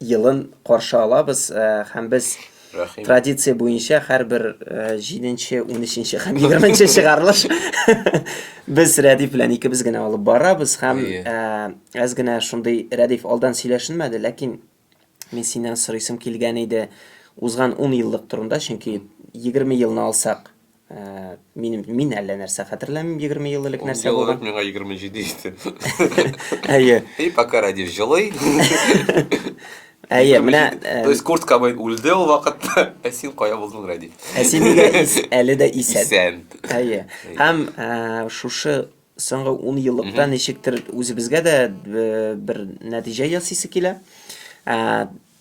елын каршы алабыз һәм без Рәхим. Традиция буенча һәрбер 7-нче, 13-нче һәм 20-нче чыгарылыш без Рәдиф белән икебез генә алып барабыз һәм әз генә шундый Рәдиф алдан сөйләшенмәде, ләкин мин синнән сорыйсым килгән иде узган 10 еллык турында, чөнки 20 елны алсак, Мин, мин әллә нәрсә хәтерләмим, 20 ел элек нәрсә булган. Ул миңа 27 иде. Әйе. И пока ради җылый. Әйе, менә... То есть Курт Кобейн үлде ул вакытта, ә син кая булдың, Ради? Ә син нигә әле дә исән? Исән. Әйе. Һәм шушы соңгы 10 еллыкта ничектер үзебезгә дә бер нәтиҗә ясыйсы килә.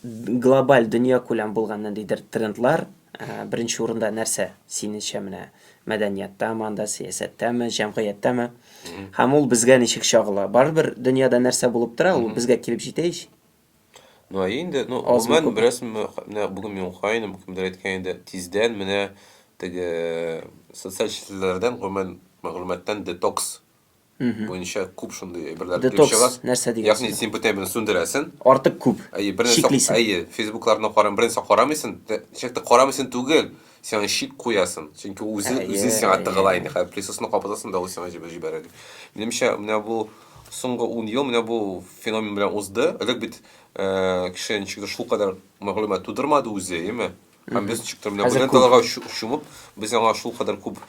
Глобаль, дөньякүләм булган ниндидер трендлар, беренче урында нәрсә синеңчә менә мәдәнияттәме анда, сәясәттәме, җәмгыятьтәме? Һәм ул безгә ничек чагыла? Барыбер дөньяда нәрсә булып тора, ул безгә килеп җитә ич. Ну, инде, ну, гомумән, беләсең, менә бүген мин укыйм, кемдер әйткән иде, тиздән менә теге социаль челтәрләрдән, гомумән, мәгълүматтан детокс буенча күп шундый әйберләр килеп Детокс чыга. нәрсә дигән Ягъни сүз? син бүтән берне сүндерәсен. Артык күп. Әйе, бернәрсә Чиклисен. әйе, фейсбукларны карам, бернәрсә карамыйсын. Тә- Ничек тә карамыйсын түгел, син аны чик куясын. Чөнки ул үзе Әйе, үзе сиңа әйе. тыгыла инде. Хәзер присосны капатасың да ул сиңа җибә- җибәрә. ди. Минемчә, менә бу соңгы ун ел менә бу феномен белән узды. Элек бит э, кеше ничектер шулкадәр мәгълүмат тудырмады үзе, әйеме? Һәм без ничек тә менә бу далага чумып, без аңа шул кадәр күп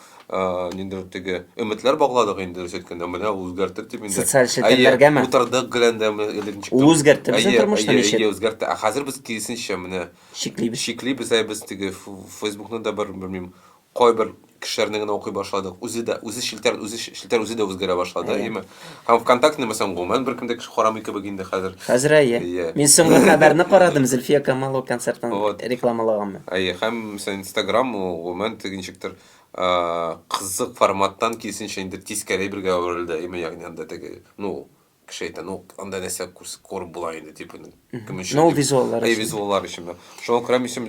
нинди теге өметләр багладык инде дөрес әйткәндә, менә үзгәртер дип инде. Социаль челтәрләргәме? Утырдык геләндә элек ничек. Ул үзгәртте безнең тормышны ничек? Әйе, үзгәртте. Ә хәзер без киресенчә менә шиклибез. Шиклибез, ә без теге Фейсбукны да бер, белмим, кайбер кешеләрне генә укый башладык. Үзе дә, үзе челтәр, үзе челтәр үзе дә үзгәрә башлады, Әйе. әйеме? Һәм ВКонтактене мәсәлән гомумән беркем дә кеше карамый кебек инде хәзер. Хәзер әйе. Әйе. Мин соңгы хәбәрне карадым, Зөлфия Камалова концертын Вот. рекламалаганмы. Әйе, һәм мәсәлән Instagram ул гомумән теге ничектер а, кызык форматтан киресенчә инде тискәре бергә әверелде, әйеме? Ягъни анда теге, ну, кеше әйтә, ну, анда нәрсә күреп була инде, типа, кем өчен? Ну, визуаллар өчен. Визуаллар өчен. Шуңа күрә мин син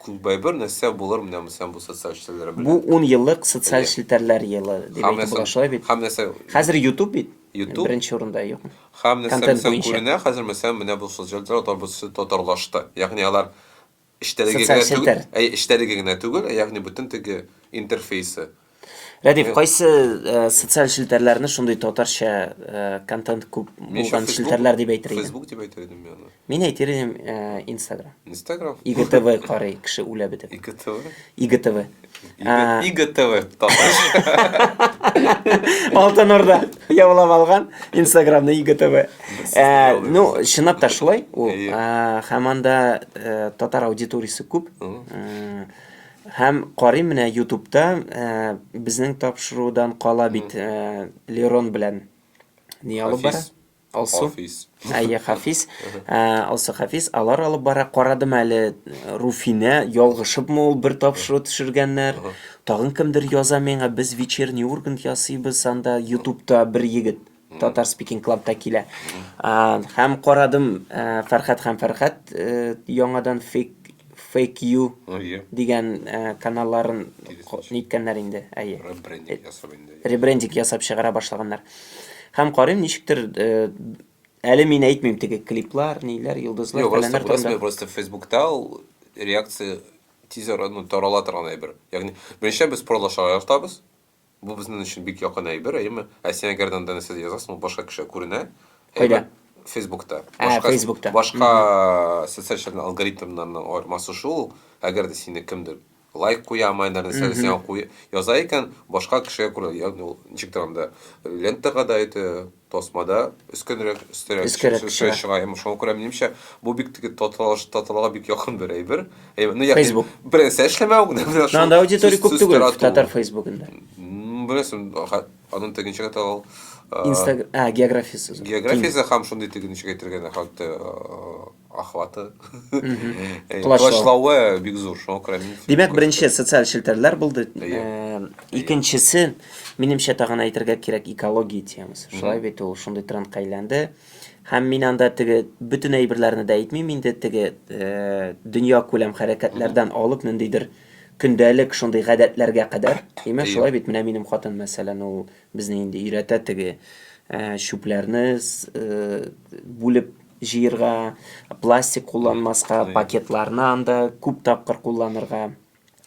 күбәйбер нәрсә булыр менә мисән бу социаль челтәрләр белән. Бу 10 еллык социаль челтәрләр елы дип әйтеп була шулай бит. Һәм нәрсә? Хәзер YouTube бит. YouTube. Беренче урында юк. Һәм нәрсә мисән күренә хәзер мисән менә бу социаль челтәрләр татарлашты. Ягъни алар Эчтәлеге генә түгел, әй, эчтәлеге генә түгел, ә ягъни бөтен теге интерфейсы. Рәдиф, э, кайсы э, социаль челтәрләрне шундый татарча э, контент күп булган челтәрләр дип әйтер идең? Facebook дип әйтер идем мин Мин әйтер идем Instagram. Instagram. IGTV карый кеше үлә бит. IGTV. IGTV. ә... игтв алтын орда яулап алган инстаграмны игтв ә, ну чынлап та шулай ул һәм анда э, татар аудиториясе күп һәм карыйм менә ютубта э, безнең тапшырудан кала бит э, лерон белән ни алып бара Алсу. Хафиз. Әйе, Хафиз. Ә, Алсу Хафиз алар алып бара. Карадым әле Руфинә, ялгышыпмы ул бер тапшыру төшергәннәр. Тагын кемдер яза миңа, без вечерний Ургант ясыйбыз анда Ютубта бер егет. Татар Speaking Club'та килә. Һәм карадым, Фәрхәт һәм Фәрхәт яңадан фейк Fake You дигән э, каналларын ниткәннәр инде. Әйе. Ребрендинг ясап инде. Ребрендинг ясап чыгара башлаганнар. Һәм карыйм, ничектер э, әле мин әйтмим теге клиплар, ниләр, йолдызлар, Юк, просто, просто, просто Фейсбукта ул реакция тизер ну, тарала торган әйбер. Ягъни, беренче без продажа яратабыз, Бу безнен өчен бик якын әйбер, әйеме? Ә сиңа гәрдәндә нәрсә язасың, ул башка кешегә күренә. Кайда? Әйме? Фейсбукта. Ә, Башка- Фейсбукта. Башка социаль челтәрнең алгоритмнарының аермасы шул, әгәр дә сине кемдер лайк куямы, әллә нәрсә Мгм. сиңа куя- яза икән, башка кешегә күренә. Ягъни ул ничектер анда лентага да әйтә, Тасмада өскенрәк, өстәрәк Өскәрәк чү- чыга. чыга. Һәм шуңа күрә минемчә, бу бик теге таталаш- татарларга бик якын бер әйбер. Әйбер, ну, ягъни, Facebook. бер нәрсә эшләмәү генә менә шул. Ну, анда аудитория сүз- күп сүз түгел тарату. татар фейсбугында. М, Беләсең, ха- аның тегенчә генә тагыл, а, Инстаг... А, географиясе зур. географиясе һәм шундый теге ничек әйтергә, нәхәтте, а, охваты, колачлавы бик зур, шуңа күрә мин... Димәк, беренче социаль челтәрләр булды. Икенчесе, минемчә тагын әйтергә кирәк экология темасы. Шулай бит ул шундый трендка әйләнде. Һәм мин анда теге бөтен әйберләрне дә әйтмим инде, теге дөнья күләм хәрәкәтләрдән алып ниндидер көндәлек шундый гадәтләргә кадәр. Димәк, шулай бит, менә минем хатын, мәсәлән, ул безне инде өйрәтә теге чүпләрне бүлеп җыерга, пластик кулланмаска, пакетларны анда күп тапкыр кулланырга,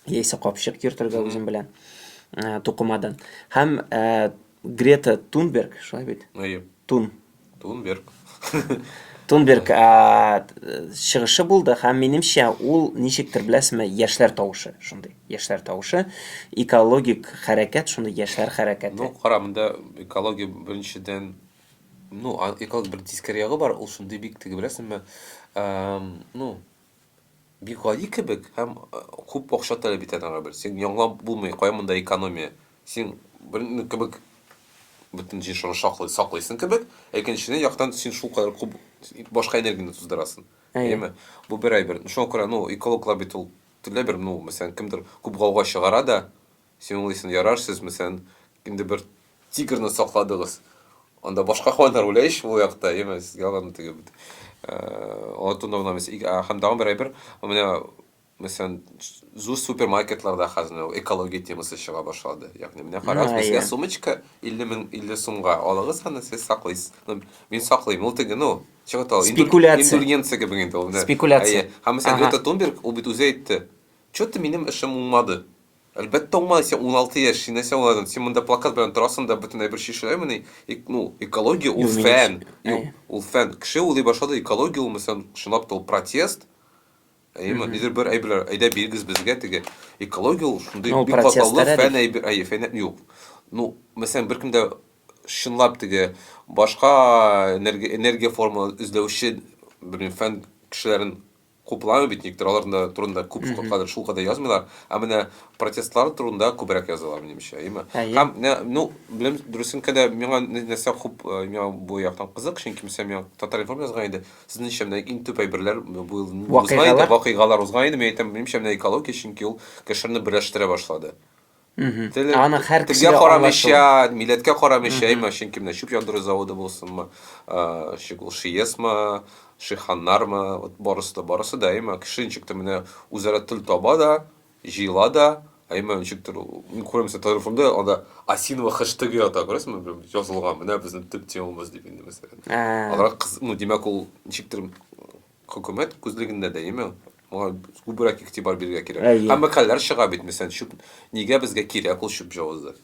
яисә капчык йөртергә үзем белән ә, тукымадан. Һәм ә, Грета Тунберг, шулай бит? Әйе. Тун. Тунберг. Тунберг ә, чыгышы булды һәм минемчә ул ничектер беләсезме, яшьләр тавышы шундый. Яшьләр тавышы, экологик хәрәкәт шундый яшьләр хәрәкәте. Ну, кара, монда экология беренчедән Ну, а- эколог бер тискәре ягы бар, ул шундый бик теге беләсеңме, эм, ну, бик гади кебек һәм э, күп акча таләп итә тагы бер. Син яңлап булмый, кая монда экономия? Син бер ну, кебек бөтен җиршыгы шаклый, саклыйсың кебек, ә икенчедән яктан син шул кадәр күп башка энергияне туздырасың. Әйе. Әйеме? Бу бер әйбер. Шуңа күрә, ну, экологлар бит ул төрле бер, ну, мәсәлән, кемдер күп гауга чыгара да, Син уйлыйсың, ярар, сез мәсәлән, инде бер тигрны сакладыгыз. Анда башка хайваннар үлә ич ул якта, яме сезгә аларны теге бит. Алтын урнына мәсәлән, һәм тагын бер әйбер, менә мәсәлән, зур супермаркетларда хәзер экология темасы чыга башлады. Ягъни менә карагыз, безгә сумочка 50 мең 50 сумга алыгыз аны, сез саклыйсыз. Ну, мин саклыйм, ул теге, ну, чыга тал. Спекуляция. Индульгенция кебек инде ул. Спекуляция. Һәм мәсәлән, Грета Тунберг, ул бит үзе әйтте. Чё-то минем эшем уңмады. Әлбәттә уңмады, син уналты яшь, син нәрсә уңадың? Син монда плакат белән торасың да бөтен әйбер чишеләмени? Эк, ну, экология ул Юк, мин фән. яшь- Юк, әйе. ул фән. Кеше уйлый башлады, экология ул мәсәлән, чынлап та ул протест. Әйеме? Мгм. Нидер бер әйберләр, әйдә бирегез безгә теге. Экология ул шундый Ну, бик протест катлаулы әле. фән әйбер, әйе, фән юк. Ну, мәсәлән, беркем дә чынлап теге башка энергия, энергия формаларын эзләүче, белмим, фән кешеләрен Купламый бит, никтер алар да турында күп кадәр шул кадәр язмыйлар, ә менә протестлар турында күбрәк язалар, минемчә, әйеме? Һәм, ну, беләм, дөресенкә дә, миңа нәрсә хуп, миңа бу яктан кызык, чөнки мисәлән, миңа Татар-информ язган иде, сезнеңчә, менә иң төп әйберләр бу ел узган иде, вакыйгалар узган иде, мин әйтәм, минемчә, менә экология, чөнки ул кешеләрне берләштерә башлады. Теле, Аның һәр телгә карамыйча, милләткә карамыйча, именно чөнки менә чүп яндыру заводы булсынмы, шигул шиесмы, шиханнармы, вот барысы да, барысы да, именно кеше ничектер менә үзара тел таба да, җыела да, именно ничектер, мин күрәм, мәсәлән, телефонда анда осиновый хэштег ята, күрәсезме, язылган, менә безнең төп темамыз дип инде, мәсәлән. Алар кыз, ну, димәк, ул ничектер Хөкүмәт күзлегендә дә, яме, моңа күбрәк игътибар бирергә кирәк. Әйе. Һәм мәкаләләр чыга бит, мәсәлән, чүп, нигә безгә кирәк ул чүп җавызы?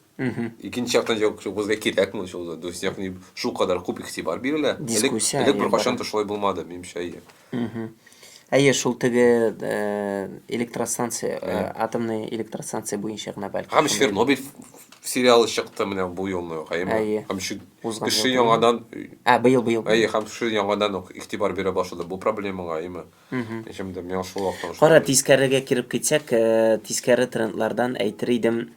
Икенче яктан, җавап, чүп безгә кирәкме ул җавызы? То есть, ягъни, шулкадәр күп игътибар бирелә. Элек, Дискуссия, элек әйе, беркайчан бара. да шулай булмады, минемчә, әйе. Әйе, шул теге э, электростанция, э, Әйе. атомный электростанция буенча гына бәлки. Һәм шундый- Чернобыль ф- ф- сериалы чыкты менә бу елны, гаеме? Әйе. Һәм чү- Узган Кеше елгы- яңадан Ә, быел, быел. быел. Әйе, һәм кеше яңадан ук игътибар бирә башлады бу проблемага, әйеме? Ичем дә миңа шул вакыттан шулай Кара, булды. тискәрегә кереп китсәк, э, тискәре трендлардан әйтер идем.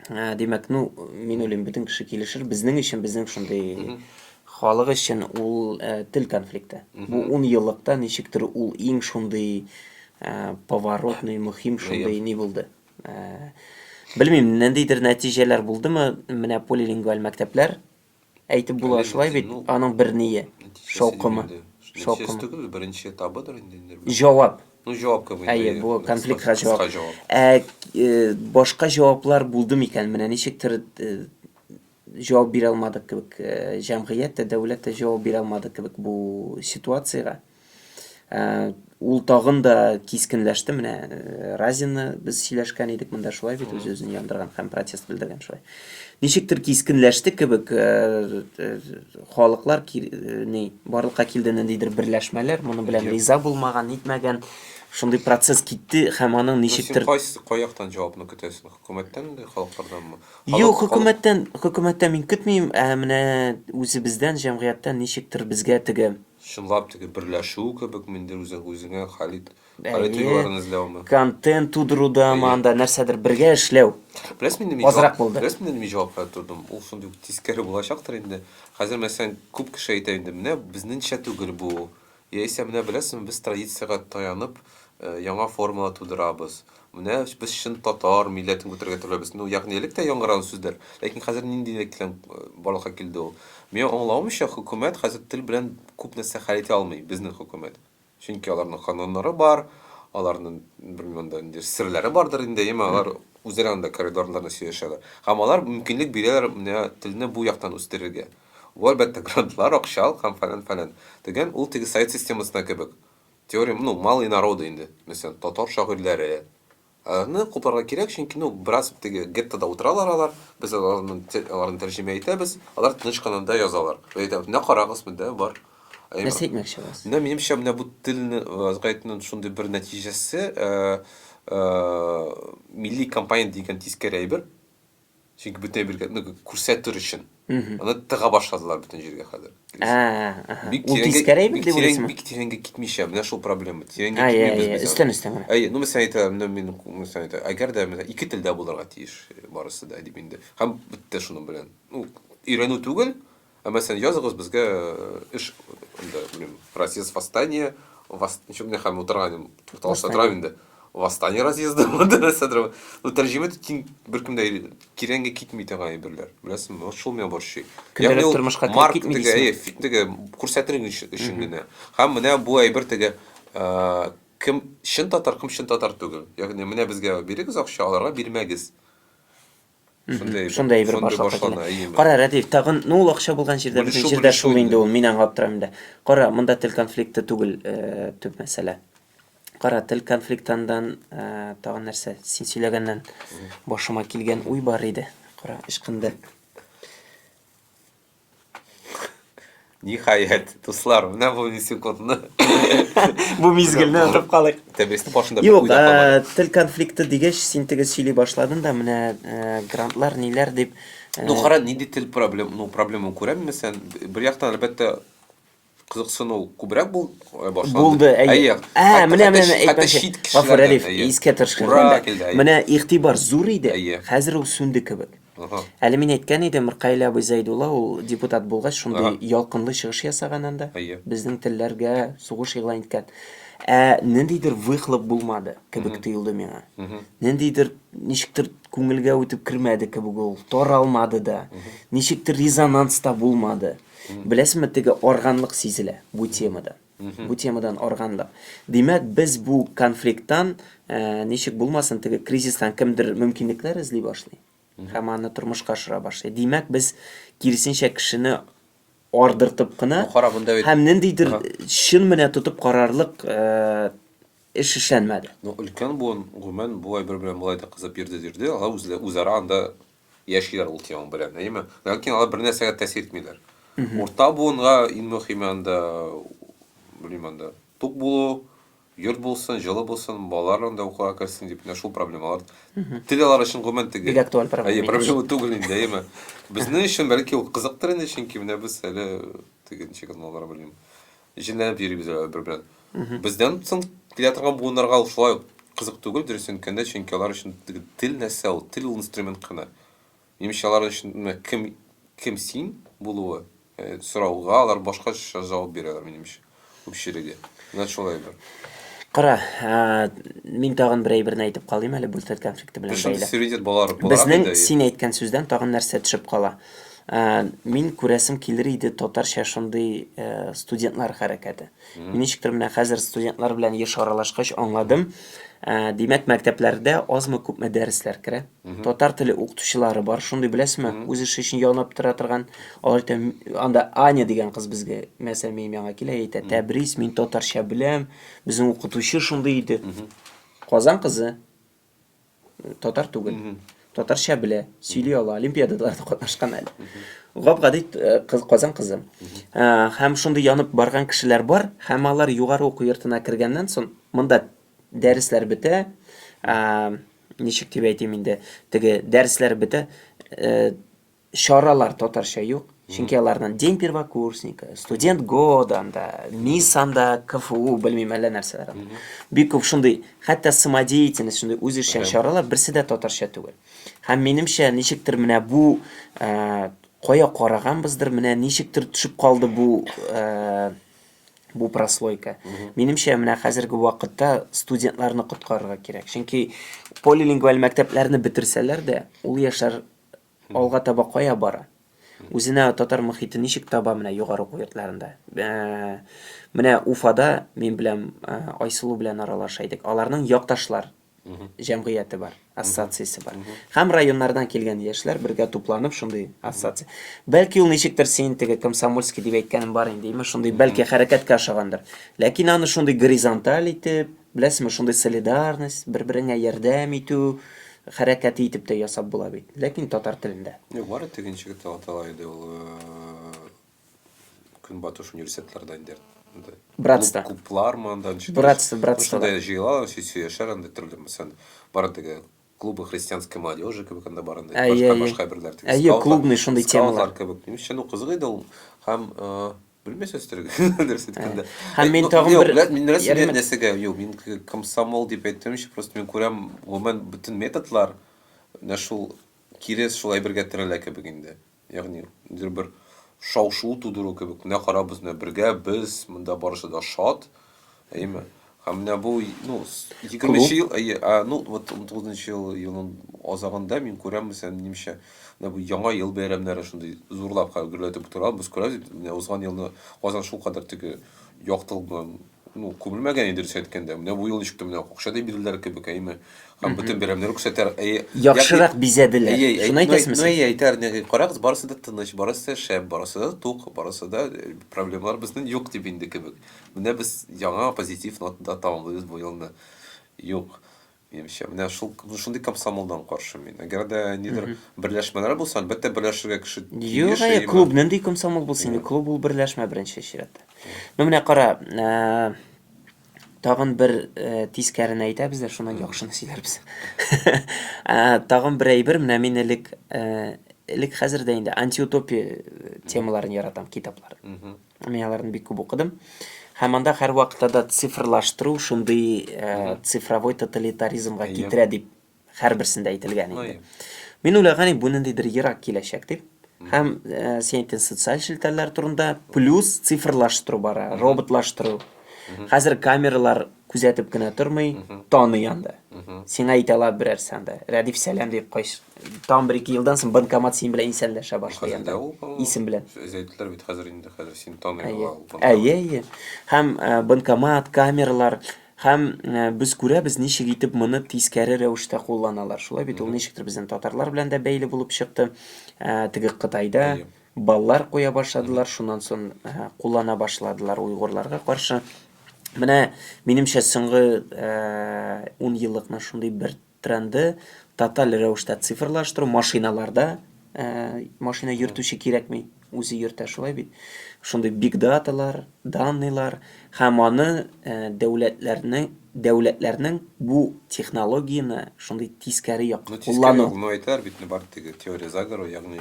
Э, Димәк, ну, мин уйлыйм, бөтен кеше килешер. Безнең өчен, безнең шундый халык өчен ул э, тел конфликты. Бу ун еллыкта ничектер ул иң шундый э, поворотный, мөһим шундый ни булды. Белмим, нәндидер нәтиҗәләр булдымы, менә полилингваль мәктәпләр әйтеп була шулай бит, аның бер ние, шаукымы. Шаукымы түгел, беренче табыдыр инде. Җавап. Ну, җавап кабул итә. Әйе, бу конфликтка җавап. Ә башка җаваплар булды микән? Менә ничектер җавап бирә алмадык кебек, э, җәмгыять тә, дәүләт тә җавап бирә алмадык кебек бу ситуациягә. Э, ул тагын да кискенләште. Менә э, Разина без сөйләшкән идек монда шулай бит үз үзен яндырган һәм протест белдергән шулай. Ничектер кискенләште кебек э, халыклар ни барлыкка килде ниндидер берләшмәләр, моны белән риза булмаган, нитмәгән шундый процесс китте һәм аның ничектер кайсы каяктан җавапны көтәсең? Хөкүмәттән дә, халыкларданмы? Юк, хөкүмәттән, хөкүмәттән мин көтмим, ә менә үзебездән, җәмгыятьтән ничектер безгә теге Чынлап теге берләшү кебек мендер үзең үзеңә халит халит юлларын эзләүме? Контент тудыруда, анда нәрсәдер бергә эшләү. Беләсезме инде мин азрак булды. Беләсезме инде мин җавап бирә тордым. Ул шундый тискәре булачактыр инде. Хәзер мәсәлән күп кеше әйтә инде, менә безнеңчә түгел бу. Яисә менә беләсеңме, без традициягә таянып, яңа формалар тудырабыз. Менә без чын татар милләтен күтәрергә теләбез. Ну, ягъни элек тә яңгыраган сүзләр, ләкин хәзер ниндилек белән барлыкка килде ул? Миңа аңлавымча, хөкүмәт хәзер тел белән күп нәрсә хәл итә алмый, безнең хөкүмәт. Чөнки аларның кануннары бар, аларның, белмим, анда ниндидер серләре бардыр инде, яме алар үзләре анда коридорларда сөйләшәләр. Һәм алар мөмкинлек бирәләр менә телне бу яктан үстерергә. Бу, әлбәттә, грантлар, акча ал һәм фәлән, фәлән. Дигән, ул теге совет системасында кебек. Теория, ну, малые народы инде, мәсәлән, татар шагыйрьләре. Аларны хупларга кирәк, чөнки, ну, бераз теге геттода утыралар алар, без аларны, аларны тәрҗемә итәбез, алар тыныч кына да язалар. Без әйтәбез, менә карагыз, монда бар. Нәрсә әйтмәкче буласыз? Менә минемчә, менә бу телне озгайтуның шундый бер нәтиҗәсе, милли компонент дигән тискәре әйбер. Чөнки бөтен әйбергә ну, күрсәтер өчен. Аны тыга башладылар бөтен җиргә хәзер. Бик Ул тискәре әйбер дип уйлыйсыңмы? Бик тирәнгә китмичә, менә шул проблема. Тирәнгә китмибез без. Өстән өстән генә. Әйе, ну мисал әйтә, ну мин мисал әйтә, әгәр дә менә ике телдә булырга тиеш барысы да дип инде. Һәм бетте шуның белән. Ну, өйрәнү түгел, Ә мәсәлән, языгыз безгә эш инде, белмим, разъезд восстания, вос... ничек менә хәм утырган идем, тукталышта Восстание. торам инде. Восстание разъезды булды нәрсәдер. Ну, тәрҗемә итеп киң беркем дә кирәнгә китми торган әйберләр. Беләсеңме? Вот шул меня борчый. Көндәлек Ягъни ул тормышка кереп марк китми теге, дисеңме? әйе, фи- теге күрсәтер өчен өчен генә. Һәм менә бу әйбер теге э, кем чын татар, кем чын татар түгел. Ягъни менә безгә бирегез акча, аларга бирмәгез. Шундай бер башлыкка килә. Кара, Рәдиф, тагын, ну ул акча булган җирдә безнең җирдә шул инде ул, мин аңлап торам инде. Кара, монда тел конфликты түгел төп мәсьәлә. Кара, тел конфликтандан тагын нәрсә, син сөйләгәннән башыма килгән уй бар иде. Кара, ычкынды. Ниһаять, дуслар, менә бу секундны. Бу мизгелне онытып калыйк. Тәбестә башында Юк, э, тел конфликты дигәч, син тегез сөйли башладың да, менә э, грантлар ниләр дип. Э, ну, кара, нинди тел проблем, ну, проблема күрәмме сен? Бер яктан, әлбәттә, кызыксыну күбрәк бул, э, башланды. Булды, әйе. Әйе. Ә, менә менә әйтмәче. Гафур Рәдиф, искә төшкәндә. Менә игътибар зур иде, хәзер ул сүнде кебек. Әле мин әйткән идем, Миркаил абый Зәйдулла ул депутат булгач, шундый ялкынлы чыгыш ясаган анда. Безнең телләргә сугыш игълан иткән. Ә ниндидер выхлоп булмады кебек тоелды миңа. Ниндидер ничектер күңелгә үтеп кермәде кебек ул, таралмады да. Ничектер резонанс та булмады. Беләсеңме, теге арганлык сизелә бу темада. Бу темадан арганлык. Димәк, без бу конфликттан э, ничек булмасын, теге кризистан кемдер мөмкинлекләр эзли башлый. Һәм аны тормышка ашыра башлый. Димәк, без киресенчә кешене ардыртып кына һәм ниндидер чын менә тотып карарлык э, эш эшләнмәде. Ну, өлкән буын, гомумән, бу әйбер белән болай да кызып йөрде-йөрде, алар үзара анда яшиләр ул тема белән, әйеме? Ләкин алар бер нәрсәгә тәэсир итмиләр. Урта буынга иң мөһиме анда, белмим анда, тук булу, йорт булсын, җылы булсын, балаларың да укуга керсен дип, менә шул проблемалар. Тел алар өчен гомумән теге. Бик актуаль проблема. Әйе, проблема түгел инде, әйеме? Безнең өчен бәлки ул кызыктыр инде, чөнки менә без әле теге ничек аны алар белмим. Җенләнеп йөрибез әле бер белән. Бездән соң килә торган буыннарга ул шулай ук кызык түгел, дөресен әйткәндә, чөнки алар өчен тел нәрсә ул? Тел ул инструмент кына. Минемчә, алар өчен менә кем, кем син булуы, э, сорауга алар башкача җавап бирәләр, минемчә, күпчелеге. Менә шулай бер. Кара, ә, мин тагын бер әйберне әйтеп калыйм әле, бүлсәт конфликты белән Причем бәйле. суверенитет балалар буларак Безнең инде. син әйткән сүздән тагын нәрсә төшеп кала? Ә, мин күрәсем килер иде татарча шундый ә, студентлар хәрәкәте. Мин ничектер менә хәзер студентлар белән еш аралашкач аңладым. Ә, димәк, мәктәпләрдә азмы күпме дәресләр керә. Татар теле укытучылары бар, шундый беләсезме? Үз эше өчен янып тора торган. Алар әйтә, «М- анда Аня дигән кыз безгә, мәсәлән, минем яңа килә, әйтә, Тәбрис, мин татарча беләм, безнең укытучы шундый иде. Казан кызы. Татар түгел. Татарча белә, сөйли ала, олимпиадаларда катнашкан әле. Гап-гади э, кыз Казан кызы. Э, һәм шундый янып барган кешеләр бар, һәм алар югары уку йортына кергәннән соң монда дәресләр бетә. Э, ничек дип әйтим инде, теге дәресләр бетә. чаралар татарча юк, чөнки аларның День первокурсника, студент года анда, мисс анда, КФУ, белмим әллә нәрсәләр анда. Бик күп шундый, хәтта самодеятельность, шундый үзешчән чаралар, берсе дә татарча түгел. Һәм минемчә, ничектер менә бу э, кая караганбыздыр, менә ничектер төшеп калды бу э, бу прослойка. Минемчә, менә хәзерге вакытта студентларны коткарырга кирәк. Чөнки полилингваль мәктәпләрне бетерсәләр дә, ул яшьләр Алга таба кая бара? Үзенә татар мохите ничек таба менә югары уку йортларында? Менә Уфада мин беләм Айсылу белән аралаша идек. Аларның якташлар җәмгыяте бар, ассоциациясе бар. Һәм районнардан килгән яшьләр бергә тупланып шундый ассоциация. Бәлки ул ничектер син теге комсомольский дип әйткәнем бар инде, имеш шундый бәлки хәрәкәткә ошагандыр. Ләкин аны шундый горизонталь итеп, Беләсезме, шундый солидарность, бер-береңә ярдәм итү хәрәкәте итеп тә ясап була бит. Ләкин татар телендә. Юк, бары тик ничек дип атала иде ул Көнбатыш университетларда инде. Братство. Клублармы анда ничек? Братство, братство. Шунда җыелалар, сөйләшәләр анда төрле мәсәлән, бары тик клубы христианской молодежи кебек анда бар инде. Башка башка берләр тик. Әйе, клубный шундый темалар кебек. Нишләнү кызык иде ул һәм Белмәсә өстәргә. Нәрсә әйткәндә. Һәм мин тагын бер мин нәрсә дигән нәрсәгә? Юк, мин комсомол дип әйтмәмче, просто мин күрәм, гомумән бөтен методлар менә шул кире шул әйбергә терәлә кебек инде. Ягъни, ниндидер бер шау-шу тудыру кебек. Менә карабыз, менә бергә без, монда барысы да шат. Әйеме? Һәм менә бу, ну, 20 ел, әйе, ә, ну, вот 19 ел елның азагында мин күрәм, мәсәлән, минемчә, менә бу яңа ел бәйрәмнәре шундый зурлап хәл гөрләтеп утыра, без күрәбез, менә узган елны Казан шул кадәр теге яктылык белән, ну, күмелмәгән иде, дөрес әйткәндә. Менә бу ел ничек тә менә акча да бирделәр кебек, әйеме? Һәм бөтен бәйрәмнәр күрсәтәр, әйе. Яхшырак бизәделәр. Әйе, шуны әйтәсезме? Ну, әйе, әйтәр, нәги, карагыз, барысы да тыныч, барысы да шәп, барысы да тук, барысы да проблемалар безнең юк дип инде кебек. Менә без яңа позитив нотада тәмамлыйбыз бу елны. Юк, минемчә, менә шул шундый комсомолдан каршы мин. Әгәр дә нидер берләшмәләр булса, әлбәттә, берләшергә кеше Юк, әйе, клуб нинди комсомол булсын инде? Клуб ул берләшмә беренче чиратта. Ну, менә кара, тагын бер э, тискәрен әйтәбез дә шуннан яхшыны сөйләрбез э, тагын бер әйбер менә мин элек э, элек хәзер дә инде антиутопия темаларын яратам китаплар Мин аларны бик күп укыдым. Һәм анда һәрвакытта да цифрлаштыру шундый э, цифровой тоталитаризмга Әйе. китерә дип һәрберсендә әйтелгән инде. Әйе. Мин уйлаган идем, бу ниндидер ерак киләчәк дип. Һәм э, син әйттең социаль челтәрләр турында, плюс цифрлаштыру бара, роботлаштыру. Хәзер камералар күзәтеп кенә тормый, таный анда. Сиңа әйтә ала берәр санда. Рәдиф сәлам дип кайш. Там бер ике елдан соң банкомат син белән исәнләшә башлый анда. Исем белән. Сез әйттеләр бит хәзер инде хәзер син таный ала ул. Әйе, әйе. Һәм э, банкомат, камералар һәм э, без күрәбез ничек итеп моны тискәре рәвештә кулланалар. Шулай бит ул ничектер безнең татарлар белән дә бәйле булып чыкты. Э, теге Кытайда баллар куя башладылар, шуннан сон куллана башладылар уйгурларга каршы. Менә минемчә соңгы 10 еллыкны шундый бер тренды тоталь рәвештә цифрлаштыру машиналарда машина йөртүче кирәкми, үзе йөртә шулай бит. Шундый биг даталар, данныйлар һәм аны дәүләтләрнең дәүләтләрнең бу технологияне шундый тискәре якка куллану. Тискәре ягына әйтәр бит, бар теге теория заговора, ягъни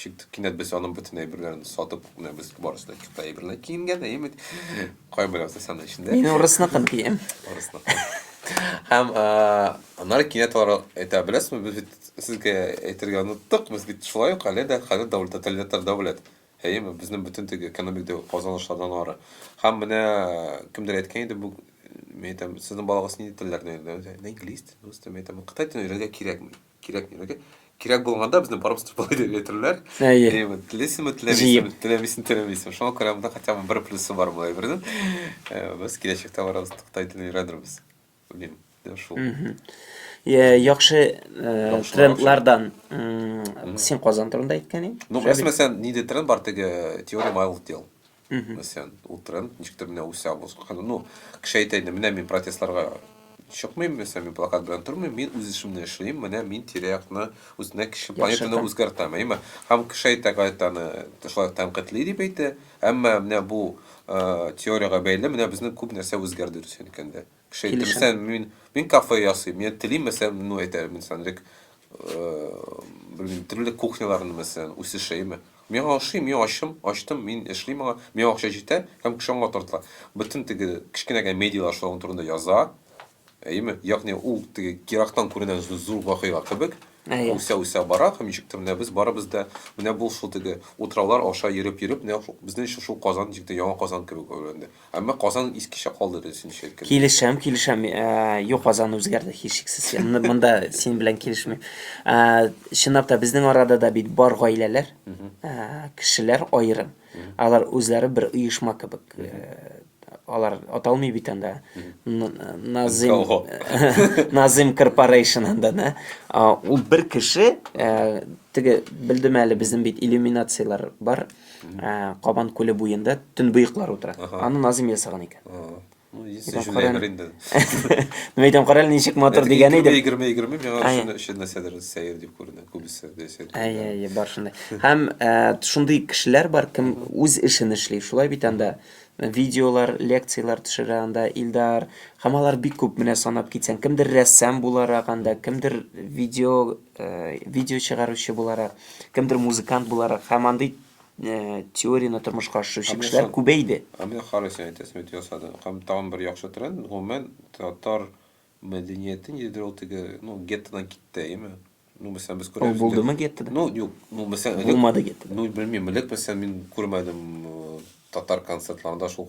Чик, кинәт без аның бөтен әйберләрен сатып куймабыз, барысы да чикта әйберләр киенгән, әйме. Кайм белән сәсән эчендә. Мин урысныкын кием. Урысныкын. Һәм анар кинәт алар әйтә беләсезме, без бит сезгә әйтергә оныттык, без бит шулай ук әле дә хәзер дәүләт тоталитар дәүләт. Әйме, безнең бөтен теге экономик казанышлардан ары. Һәм менә кемдер әйткән иде бу мен әйтәм, сезнең балагыз нинди телләрне өйрәнә? Инглиз телен, рус телен, әйтәм, кытай телен өйрәнергә кирәкми. Кирәк мирәк. Кирәк булганда безне барып сатып алып әйтерләр. Әйе. Әйе, вот телисеме, теләмисеме, теләмисеме, теләмисеме. Шуңа күрә монда хотя бы бер плюсы бар бу әйбернең. Э, Без киләчәктә барабыз Кытай телен өйрәнербез. Белмим. Менә Шул. Мгм. Е, Яхшы э, Яхшылар, трендлардан м, син Казан турында әйткән идең. Ну, Шәбир. мәсәлән, нидә тренд бар теге теория малых дел. Мәсәлән, ул тренд ничектер менә үсә узган. Ну, кеше әйтә инде, менә мин протестларга чыкмыйм, мәсәлән, мин плакат белән тормыйм, мин үз эшемне эшлим, менә мин тирә-якны, үзенә кеше планетаны үзгәртәм, әйме? Һәм кеше әйтә, гаять аны шулай тәнкыйтьли дип әйтә. Әмма менә бу теориягә бәйле менә безнең күп нәрсә үзгәрде Русия өлкәндә. Кеше әйтте, Килешәм. мәсәлән, мин, мин кафе ясыйм, мин телим, мәсәлән, ну, әйтәләр, мин сәнрек, белмим, төрле кухняларны, мәсәлән, үсешәйме. Мин аңа ошыйм, мин ачым, ачтым, мин эшлим аңа, миңа акча җитә, һәм кеше аңа тартыла. Бөтен теге кечкенә генә медиалар шуның турында яза, әйеме? Ягъни ул теге ерактан күренә зу- зур вакыйга кебек, Әйе. үсә-үсә бара, һәм ничектер менә без барыбыз да, менә бу шул теге утраулар аша йөреп-йөреп, менә шул- безнең өчен шул Казан ничектер Яңа Казан кебек әверелде. Әмма Казан искечә калды дөресенчә әйткәндә. Килешәм, килешәм. Э, юк, Казан үзгәрде һичшиксез. М- Монда синең белән килешмим. Э, Чынлап та безнең арада да бит бар гаиләләр, э, кешеләр аерым. Алар үзләре бер оешма кебек. Э, Алар аталмый бит анда. Н- Назим Кого? Назим Корпорейшн анда, да. А, Ул бер кеше, э, теге белдем әле безнең бит иллюминацияләр бар. ә, Кабан күле буенда төнбоеклар утыра. Аны Назим ясаган икән. Ну, если Итак, Жюлия Карен- Гринда. Ну, әйтәм, карале ничек матур дигән идем. Егерме, егерме, миңа Әйе. шуны өчен нәрсәдер сәер дип күренә, күбесе. дә сәер күренә. Әйе, әйе, бар шундай. Һәм ә, шундый кешеләр бар, кем үз эшен эшли. Шулай бит анда видеолар, лекциялар төшерә анда Илдар. Һәм алар бик күп менә санап китсәң, кемдер рәссам буларак анда, кемдер видео видео чыгаручы буларак, кемдер музыкант буларак һәм андый э, теорияне тормышка ашыручы кешеләр күбәйде. Ә менә карыйсы әйтәсем бит ясады. Һәм тагын бер яхшы тренд, гомумән татар мәдәниятен йөдер ул теге, ну, геттодан китте, әйеме? Ну, мәсәлән, без күрәбез. Ул булдымы геттода? Ну, юк, ну, мәсәлән, булмады геттода. Ну, белмим, элек мәсәлән мин күрмәдем э, татар концертларында шул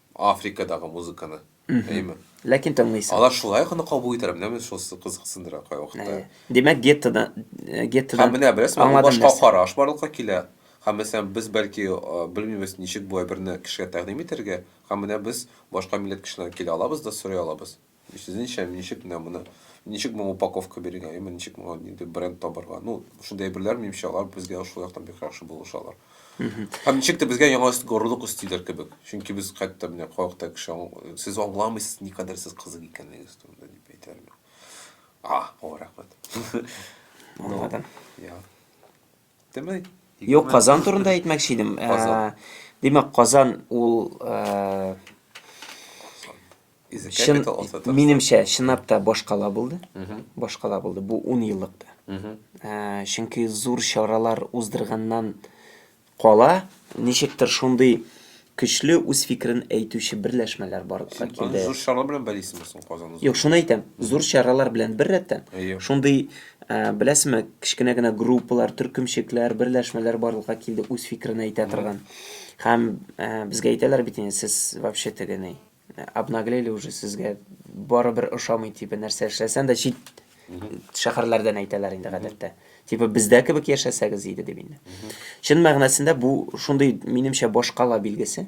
Африкадагы музыканы, әйеме? Ләкин тыңлыйсың. Алар шулай ук аны кабул итәләр, менәме шусы кызыксындыра кайвакытта. Әйе. Димәк, геттода, геттода. Һәм менә беләсезме, бу башка караш барлыкка килә. Һәм мәсәлән, без бәлки белмибез, ничек бу әйберне кешегә тәкъдим итәргә, һәм менә без башка милләт кешеләрен килә алабыз да сорый алабыз. Сезнеңчә, ничек менә моны, ничек моңа упаковка бирергә, яме ничек моңа нинди бренд табарга? Ну, шундый әйберләр, минемчә, алар безгә шул яктан бик яхшы булыша алар. Һәм ничек тә безгә яңа горурлык өстиләр кебек. Чөнки без хәтта менә кайвакыта кеше аңл- сез аңламыйсыз, никадәр сез кызык икәнлегегез турында дип әйтәләр миңа. А, о, рәхмәт. Аңладым. Я. Юк, Казан турында әйтмәкче идем. Димәк, Казан ул Шын, минемчә, чынлап та башкала булды. Башкала булды бу 10 еллыкта. Ә, чөнки зур чаралар уздырганнан кала, ничектер шундый Көчле үз фикерен әйтүче берләшмәләр барлыкка Син аны килде. зур чаралар белән бәйлисеңме соң Казан узган? Юк, шуны әйтәм. Зур чаралар белән бер рәттән, Әйе. шундый, ә, беләсезме, кечкенә генә группалар, төркемчекләр, берләшмәләр барлыкка килде үз фикерен әйтә торган. Һәм, ә, безгә әйтәләр бит инде, сез вообще теге ни, обнаглели уже сезгә барыбер ошамый типа нәрсә эшләсәң дә чит шәһәрләрдән әйтәләр инде гадәттә типа бездә кебек яшәсәгез иде дип инде чын мәгънәсендә бу шундый минемчә башкала билгесе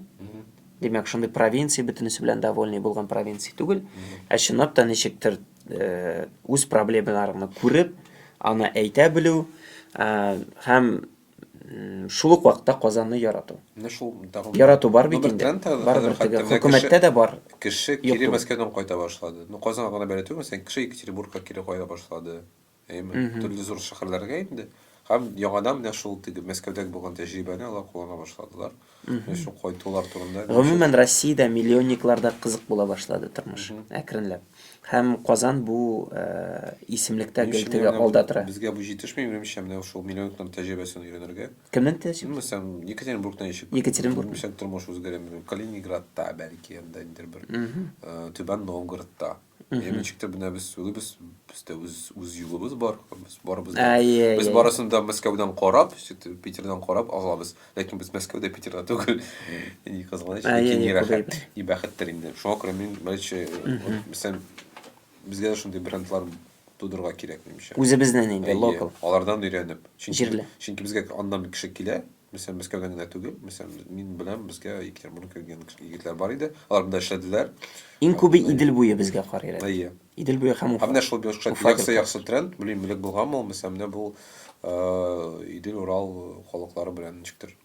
димәк шундый провинция бөтенесе белән довольный булган провинция түгел ә чынлап та ничектер үз проблемаларыңны күреп аны әйтә белү һәм Шул ук вакытта Казанны ярату. Менә шул тагын Ярату бар бит инде. Барыбер теге хөкүмәттә дә бар. Кеше кире Мәскәүдән кайта башлады. Ну, Казанга гына бәйле түгел, мәсәлән, кеше Екатеринбургка кире кайта башлады. Әйеме? Төрле зур шәһәрләргә инде. Һәм яңадан менә шул теге Мәскәүдәге булган тәҗрибәне алар куллана башладылар. Шул кайтулар турында. Гомумән, Россиядә миллионникларда кызык була башлады тормыш, әкренләп. Һәм Казан бу исемлектә гел теге алда тора. Безгә бу җитешми, минемчә, менә шул миллионникларның тәҗрибәсен өйрәнергә. Кемнең тәҗрибәсе? Мәсәлән, Екатеринбургта ничек? Екатеринбург. Ничек тормыш үзгәрә, мин белмим. Калининградта, бәлки, анда ниндидер бер, Түбән Новгородта. Мхм. Ничек тә менә без сүлебез, бездә үз үз юлыбыз бар. Без барыбыз да. Әйе. Без барысын да Мәскәүдән карап, Питердан карап алабыз. Ләкин без Мәскәүдә, Питерда түгел. Ни кызганыч, ләкин ни рәхәт, ни бәхеттер инде. Шуңа күрә мин мәлче, мисәл, безгә шундый брендлар тудырга кирәк, минемчә. Үзебезнең инде локал. Алардан өйрәнеп. Чөнки, чөнки безгә аннан кеше килә. Мәсәлән, Мәскәүдән генә түгел, мәсәлән, мин беләм, безгә Екатеринбургдан килгән егетләр бар иде, алар монда эшләделәр. Иң күбе Идел буе безгә карыйр әле. Әйе. Идел буе һәм Уфа. Ә менә шул яхшы-яхшы тренд, белмим, элек булганмы ул, мәсәлән, менә бу Идел, Урал халыклары белән ничектер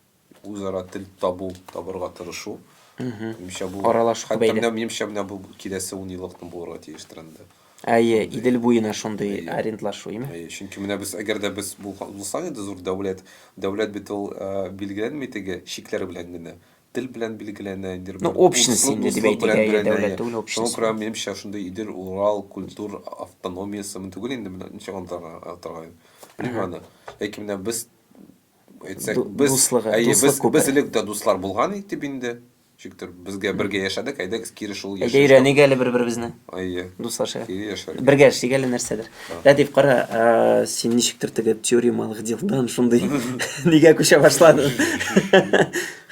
үзара тел табу, табырга тырышу. Минемчә, бу, хәтта менә минемчә, менә бу киләсе унъеллыкның булырга тиеш тренды. Әйе, Идел буена шундый арендлашу, име? Әйе, чөнки менә без, әгәр дә без булсак иде зур дәүләт, дәүләт бит ул билгеләнми теге чикләр белән генә, тел белән билгеләнә, инде бер общность инде дип әйтик, әйе, дәүләт түгел, общность. Шуңа күрә минемчә шундый Идел, Урал культур автономиясе мөмкин түгел инде менә ничек аңлатырга аны, белмим аны. Ләкин менә без әйтсәк, без, әйе, без элек тә дуслар булган идек бит инде. Чиктер, безгә бергә яшәдек, әйдәгез кире шул яшәеш. Әйдә өйрәник әле бер-беребезне. Әйе. Дуслашыйк. Кире яшәр. Бергә эшлик әле нәрсәдер. Рәдиф, кара, син ничектер теге теоремалык дилдан шундый нигә күчә башладың.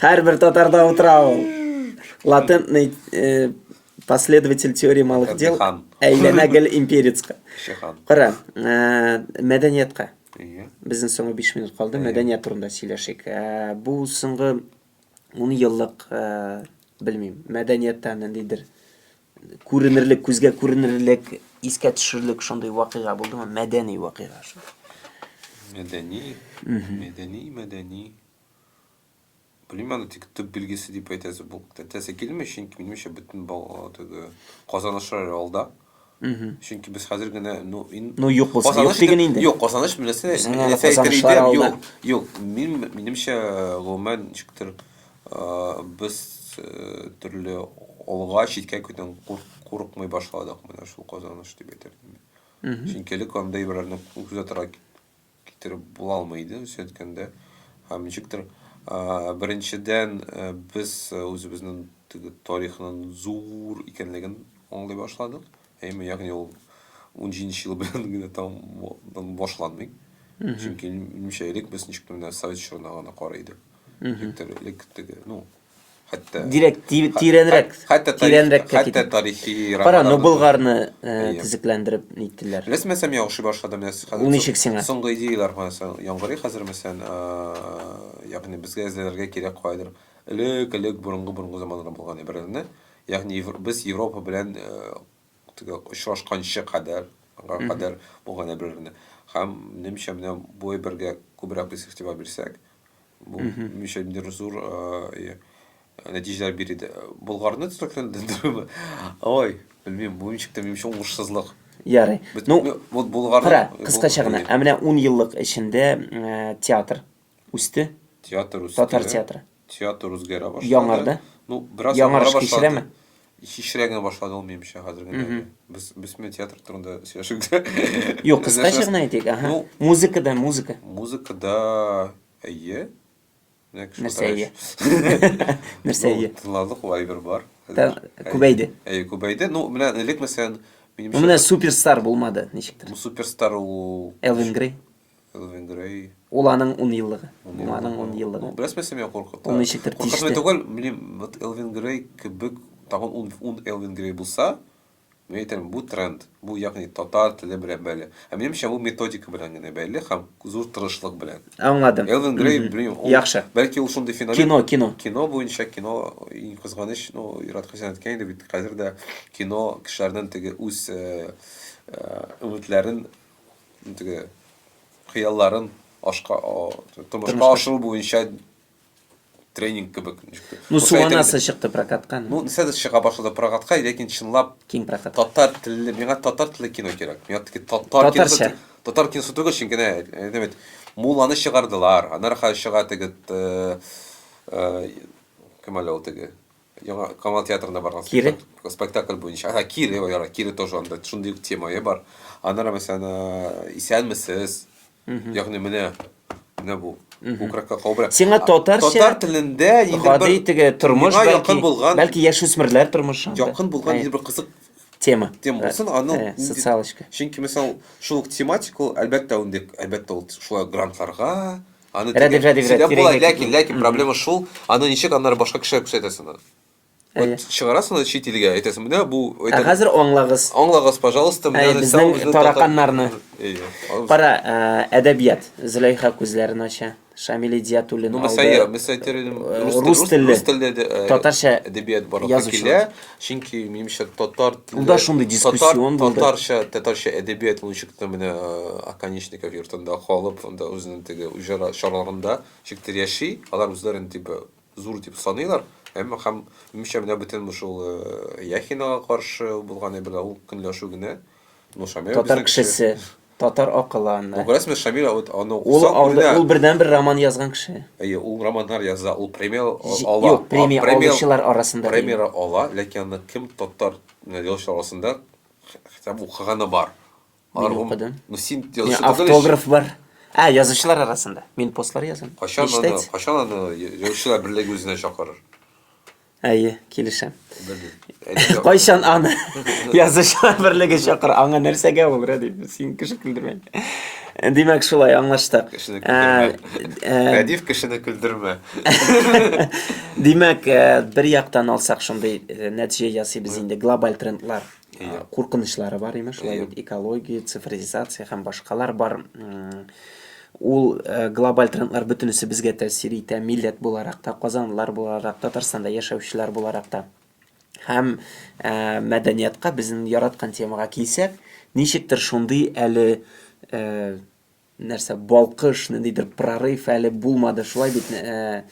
Һәрбер татарда утыра ул. Латентный э, последователь теоремалык дел. Әйләнә гел имперецка. Кара, э, мәдәниятка. Безнең соңгы 5 минут калды. Мәдәният турында сөйләшик. Э, бу соңгы ун еллык э, белмим мәдәнияттә ниндидер күренерлек күзгә күренерлек искә төшерлек шундый вакыйга булдымы мәдәни вакыйга мәдәни мәдәни мәдәни белмим аны тик төп билгесе дип әйтәсе әйтәсе килми чөнки минемчә бөтен теге казанышлар алда Чөнки без хәзер генә, ну, ин... Ну, юк булса, юк диген инде. Юк, казаныш беләсе, нәрсә әйтер иде, юк. Юк, мин, минемчә, гомумән, ничектер, без төрле алга, читкә көтен курыкмый башладык, менә шул казаныш дип әйтер идем. Чөнки элек андый берәрне күзәтергә китереп була алмый иде үзе әйткәндә. Һәм ничектер, беренчедән, без үзебезнең теге тарихның зур икәнлеген аңлый башладык. Әйме, ягъни ул 17 ел белән генә там башланмый. Чөнки минемчә элек без ничектер менә совет чорына гына карый идек. Ничектер элек теге, ну, хәтта дирәк тирәнрәк хәтта тирәнрәк хәтта тарихи кара ну болгарны э, төзекләндереп ниттеләр белмәсәм яхшы башлады менә ул ничек сиңа соңгы идеяләр мәсәлән яңгырый хәзер мәсәлән э, ягъни безгә эзләргә кирәк кайдыр элек элек борынгы борынгы заманнарда булган әйберләрне ягъни без европа белән э, Теге очрашканчы кадәр, га кадәр булганда бер-берне. Һәм минемчә менә бу әйбергә күбрәк без игътибар бирсәк, бу минемчә ниндидер зур э, нәтиҗәләр бир иде. Болгарны төзекләндерү. Ой, белмим, бу ничек тә минемчә уңышсызлык. Ярый. Ну, вот Булгарда. Кара, кыскача гына. Ә менә 10 еллык эчендә э, театр Үсте. Театр үсте. Татар театры. Театр үзгәрә башлады. Яңарды. Ну, бераз яңарыш кичерәме? Кичерә генә башлады ул минемчә хәзер генә. Без без менә театр турында сөйләшик тә. Юк, кыскача гына әйтик. Ага. Ну, музыкада, музыка. Музыкада әйе. Нәрсә әйе? Нәрсә әйе? Тыңладык, вайбер бар. Күбәйде. Әйе, күбәйде. Ну, менә элек мәсәлән, минемчә. Менә суперстар булмады, ничектер. Суперстар ул Элвин Грей. Элвин Грей. Ул аның ун еллыгы. Ул аның ун еллыгы. Ну, бераз мәсем я куркыта. Ул ничектер тиште. Куркытмый түгел, белмим, вот Элвин Грей кебек, тагын ун, ун Элвин Грей булса, мин әйтәм, бу тренд, бу ягъни татар теле белән бәйле. Ә минемчә, бу методика белән генә бәйле һәм зур тырышлык белән. Аңладым. Элвин Грей, белмим, ул, Яхшы. Бәлки ул шундый феномен. Кино, кино. Кино буенча, кино, иң кызганыч, ну, Ират Хәсән әйткән иде бит, хәзер дә кино кешеләрнең теге үз э, э, өметләрен теге хыялларын ашка тормышка ашыру буенча тренинг кебек ну суанасы чыкты прокатка ну нәрсә чыга башлады прокатка ләкин чынлап киң прокат татар телле миңа татар телле кино кирәк миңа теге татар киносы татар киносы түгел чөнки әйтәм бит мулланы чыгардылар аннары хәзер чыга теге э, э, кем әле ул теге Яңа Камал театрында барган Кире? спектакль- спектакль буенча. Ага, Кире, яра, Кире тоже анда шундый ук темае бар. Аннары мәсәлән, э, исәнмесез. Ягъни менә менә бу. Күкрәккә кобра. Сиңа А, татарча татар телендә нидер гади бер теге тормыш миңа бәлки, якын булган бәлки яшүсмерләр тормышы. анда. якын булган Э, нидер бер кызык тема. тема Э, булсын, аны э, нинди- социалочка. Чөнки, мисал, шул ук тематика ул, әлбәттә, инде, әлбәттә, ул шулай грантларга, Аны Рәдиф, тегә- Рәдиф, тегә Рәдиф, була, тирәнгә ләкин, китмә. ләкин проблема шул, аны ничек аннары башка кешегә күрсәтәсең аны? Әйе. Вот чыгарасың аны чит илгә, әйтәсең, менә бу Ә әйтәм, хәзер аңлагыз. аңлагыз, пожалуйста, менә Әйе, нәрсә безнең ул, безнең тараканнарны. татар- Әйе. Ал- Кара, ә, әдәбият. Зөләйха күзләрен ача. Шамил Идиятуллин Ну, алды. мәсәлән, мәсәлән, әйтер идем, Э, рус тел- рус рус телле. рус телле дә, э, Татарча әдәбият барлыкка язучылар. килә. Чөнки минемчә татар теле Ул да шундый дискуссион татар, татарча, татарча әдәбият ул ничек тә менә Аканечников йортында калып, анда үзенең теге уҗара чараларында ничек тә яши. Алар үзләрен дип зур дип саныйлар. Әмма һәм минемчә менә бөтен шул Яхинага каршы булган әйберләр ул көнләшү генә. Ну, Шамил татар кешесе. Татар акылы анда. Бу Грасмер Шамил а вот аны Ул укысаң, анда үлә. ул бердәнбер роман язган кеше. Әйе, ул романнар яза, ул премия а- Җи, ала. юк, А премия премия алучылар арасында дим. премияра ала, ләкин аны кем татар н язучылар арасында хе хитабы укыганы бар? Мин Алар гом укыдым. Ну, син Мин язучы түгел ич. автограф бар. Ә, язучылар арасында. Мин постлар язам. Кайчан аны Ништәтс? кайчан аны я язучылар берлеге үзенә чакырыр? Әйе, килешәм. Кайчан аны язучылар берлеге чакыр, аңа нәрсәгә ул, Рәдиф, син кеше көлдермә. Димәк, шулай аңлаштык. Кешене көлдермә. Рәдиф кешене көлдермә. Димәк, бер яктан алсак, шундый нәтиҗә ясыйбыз инде, глобаль трендлар. куркынычлары бар имеш шулай бит экология цифризация һәм башкалар бар ул глобаль трендлар бөтенесе безгә тәэсир итә милләт буларак та казанлылар буларак татарстанда яшәүчеләр буларак та һәм мәдәниятка безнең яраткан темага килсәк ничектер шундый әле Нәрсә, балкыш, ниндидер прорыв әле булмады, шулай бит. Ә,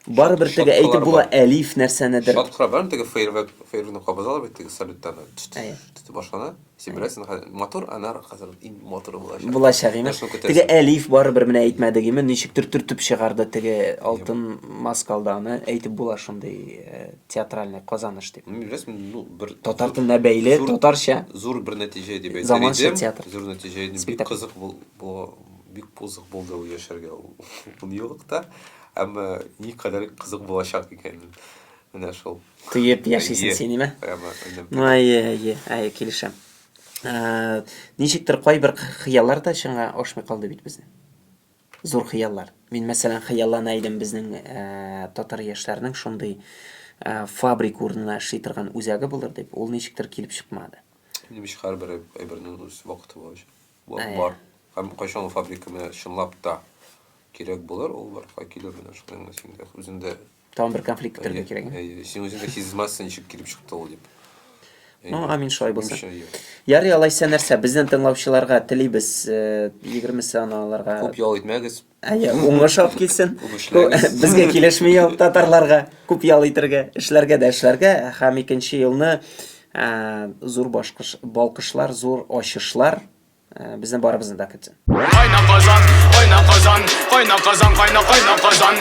барыбер теге Шаткалар әйтеп була, бар. Әлиф нәрсәнедер. Шаткалар бар, теге фейерверк, фейерверкны кабызалар бит, теге салюттан Әйе. тетеп башлана. Син беләсең, хәзер матур, анар хәзер иң матуры булачак. Булачак име? Нәрсәне көтәсең? Теге Әлиф барыбер менә әйтмәдек име, ничектер төртеп чыгарды теге алтын маскалданы, әйтеп була шундый. э, театральный казаныш дип. Беләсең, ну, бер татар теленә бәйле, зур, татарча. Зур бер нәтиҗә дип әйтер Заманча идем. театр. Зур нәтиҗә идем. Бик кызык бул, бу, бик кызык булды ул яшәргә ул юлыкта. Әмма ни кадәр кызык булачак икән. Менә шул. Тыеп яшисең син, име? Прямо. Ну, әйе, әйе, әйе, килешәм. Ә, ничектер кайбер хыяллар да чынга ашмый калды бит безнең. Зур хыяллар. Мин мәсәлән хыяллана идем безнең татар яшьләренең шундый фабрик урынына эшли торган үзәге булыр дип, ул ничектер килеп чыкмады. Минем өчен һәрбер әйбернең үз вакыты бар өчен. Вакыт бар. Һәм кайчан фабрика менә чынлап та кирәк булыр, ул барга килер менә шуның өчен дә. Үзем дә Тагын бер конфликт бетерергә кирәк. Әйе, син үзең дә сизмәссең, ничек килеп чыкты ул дип. Ну, амин шулай булсын. Ярый, алайса нәрсә, безнең тыңлаучыларга телибез 20 э, саналарга. Күп ял итмәгез. Әйе, уңыш алып килсен. Безгә килешми ял татарларга. Күп ял итергә, эшләргә дә эшләргә һәм икенче елны э, зур башкыш, балкышлар, зур ачышлар э, безнең барыбызны да көтсен. Кайна Казан, кайна Казан, кайна Казан, кайна кайна Казан.